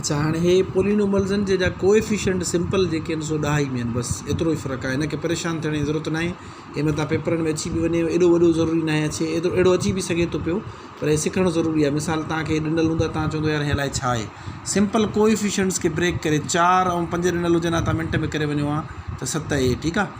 اڇا هاڻي هي پولينوملزن جي جا ڪوئفيشنٽ سمپل جيڪي آهن سو ڏهائي ۾ آهن بس ايترو ئي فرق آهي هن کي پريشان ٿيڻ جي ضرورت ناهي هي متان پيپرن ۾ اچي به وڃي ايڏو وڏو ضروري ناهي اچي ايترو اهڙو اچي به سگهي ٿو پيو پر هي سکڻ ضروري آهي مثال توهان کي ڏنل هوندا توهان چوندو يار هي الائي ڇا آهي سمپل ڪوئفيشنٽس کي بريڪ ڪري چار ۽ پنج ڏنل هجن ها توهان منٽ ۾ ڪري وڃو ها ته ست اهي ٺيڪ آهي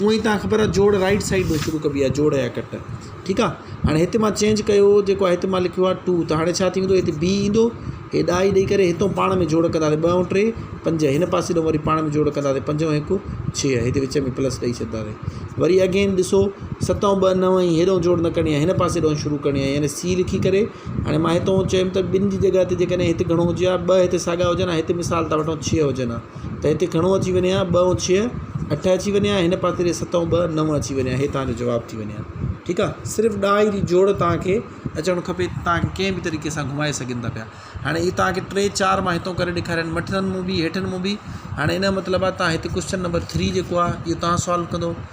هونئن هي تان خبر آ جوڙ رائيٽ سائيڊ ۾ شروع ڪبي آ جوڙ يا ڪٽ ٺيڪ آ هاڻي هت مان چينج ڪيو جيڪو آ هت مان لکيو آ ٽو ته هاڻي ڇا ٿيندو هت بي ايندو هي ڏائي ڏئي ڪري هتئون پاڻ ۾ جوڙ ڪنداسي ٻه ۽ ٽي پنج هن پاسي ڏئون وري پاڻ ۾ جوڙ ڪنداسي پنج ۽ هڪ ڇهه هتي وچ ۾ پلس ڏئي ڇڏداسي وري اگين ڏسو ست ۽ ٻه نو ۽ هيڏئون جوڙ نه ڪرڻي آ هن پاسي ڏئون شروع ڪرڻي آ يعني سي لکي ڪري هاڻي مان هتئون چيم ته ٻن جي جڳهه تي جيڪڏهن هت گهڻو هجي ها ٻه هتي ساڳا هجن ها هت مثال ٿا وٺون ڇهه هجن ها ته هتي گهڻو اچي وڃي ها ٻه ۽ ڇهه اٺ اچي وڃي ها هن پاسي ڏي ست ۽ ٻه نو اچي وڃي ها هي تنهنجو جواب ٿي وڃي ها ٺيڪ آ صرف ڏهائي جي جوڙ تنهنکي اچڻ کپي تنهنکي ڪنهن به طريقي سان گهمائي سگهن ٿا پيا هاڻي هي تنهنکي ٽي چار مان هتو ڪري ڏيکارين مٿن مون به هيٺن مون به هاڻي هن جو مطلب آ تنهن هتي ڪوشچن نمبر ٿري جيڪو آ اهو تنهن سالو ڪندو